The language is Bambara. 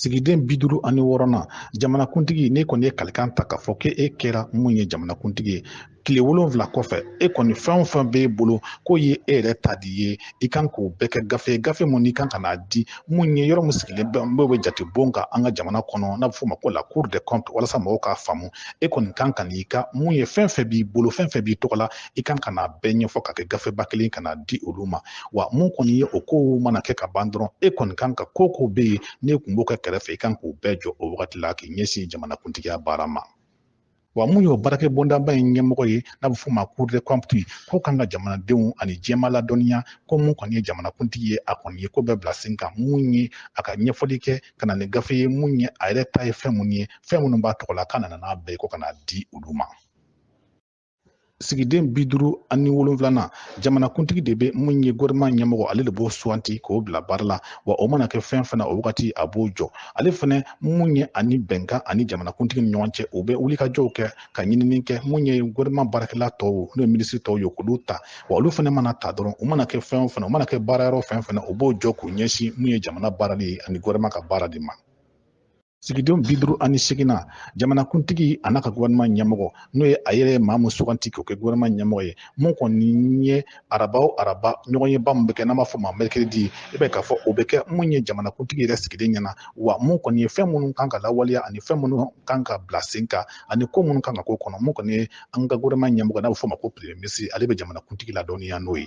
sigiden bi duuru ani wɔɔrɔnan jamanakuntigi n'e kɔni ye kalikan ta k'a fɔ k'e kɛra mun ye jamanakuntigi ye tile wolonfila kɔfɛ e kɔni fɛn o fɛn b'e bolo k'o ye e yɛrɛ ta di ye i kan k'o bɛɛ kɛ gafe gafe mun n'i kan ka n'a di mun ye yɔrɔ mun sigilen bɛ n'o bɛ jate bon kan an ka jamana kɔnɔ n'a bɛ f'o ma ko la cour des comptes walasa mɔgɔw k'a faamu e kɔni kan ka n'i ka mun ye fɛn fɛn b'i bolo fɛn fɛn b'i tɔgɔ la i kan ka n'a bɛɛ ɲɛfɔ k'a kɛ gafeba kelen ka n'a di olu ma wa mun kɔni ye o kow mana kɛ ka ban dɔrɔn e kɔni kan ka ko ko bɛ yen n'e kun b'o kɛ kɛrɛfɛ i kan k'o bɛɛ jɔ o wagati la k'i ɲɛsin jamanakuntigiya baara ma wa mun y'o baarakɛ bondaba in ɲɛmɔgɔ ye n'a bɛ f'o ma cour des comptes k'o kan ka jamanadenw ani jɛma ladɔnniya ko mun kɔni ye jamanakuntigi ye a kɔni ye ko bɛɛ bila sen kan mun ye a ka ɲɛfɔli kɛ ka na ni gafe ye mun ye a yɛrɛ ta ye fɛn mun ye fɛn minnu b'a tɔgɔ la k'a nana n'a bɛɛ ye ko ka n'a di olu ma sigiden bi duuru ani wolonfilanan jamanakuntigi de bɛ mun ye gouvernement ɲɛmɔgɔ ale de b'o suganti k'o bila baara la wa o mana kɛ fɛn fana o wagati a b'o jɔ ale fana mun ye ani bɛnkan ani jamanakuntigi ni ɲɔgɔn cɛ u bɛ wulikajɔw kɛ ka ɲinini kɛ mun ye gouvernement baarakɛla tɔw n'o ye minisiri tɔw ye k'olu ta wa olu fana mana ta dɔrɔn u mana kɛ fɛn o fɛn u mana kɛ baarayɔrɔ fɛn fɛn na u b'o jɔ k'u ɲɛsin mun ye jamana baarali ye ani gouvernement ka baara de ma sigiden bi duuru ani seginnan jamanakuntigi a n'a ka gouvernement ɲɛmɔgɔ n'o ye a yɛrɛ maa mun suganti k'o kɛ gouvernement ɲɛmɔgɔ ye mun kɔni ye araba o araba ɲɔgɔnyeba mun bɛ kɛ n'a b'a fɔ ma mercredi i b'a ye k'a fɔ o bɛ kɛ mun ye jamanakuntigi yɛrɛ sigilen ɲɛ na wa mun kɔni ye fɛn minnu kan ka lawaleya ani fɛn minnu kan ka bila sen kan ani ko minnu kan ka k'o kɔnɔ mun kɔni ye an ka gouvernement ɲɛmɔgɔ n'a bɛ f'o ma ko premier ministre ale bɛ jamanakuntigi ladɔnniya n'o ye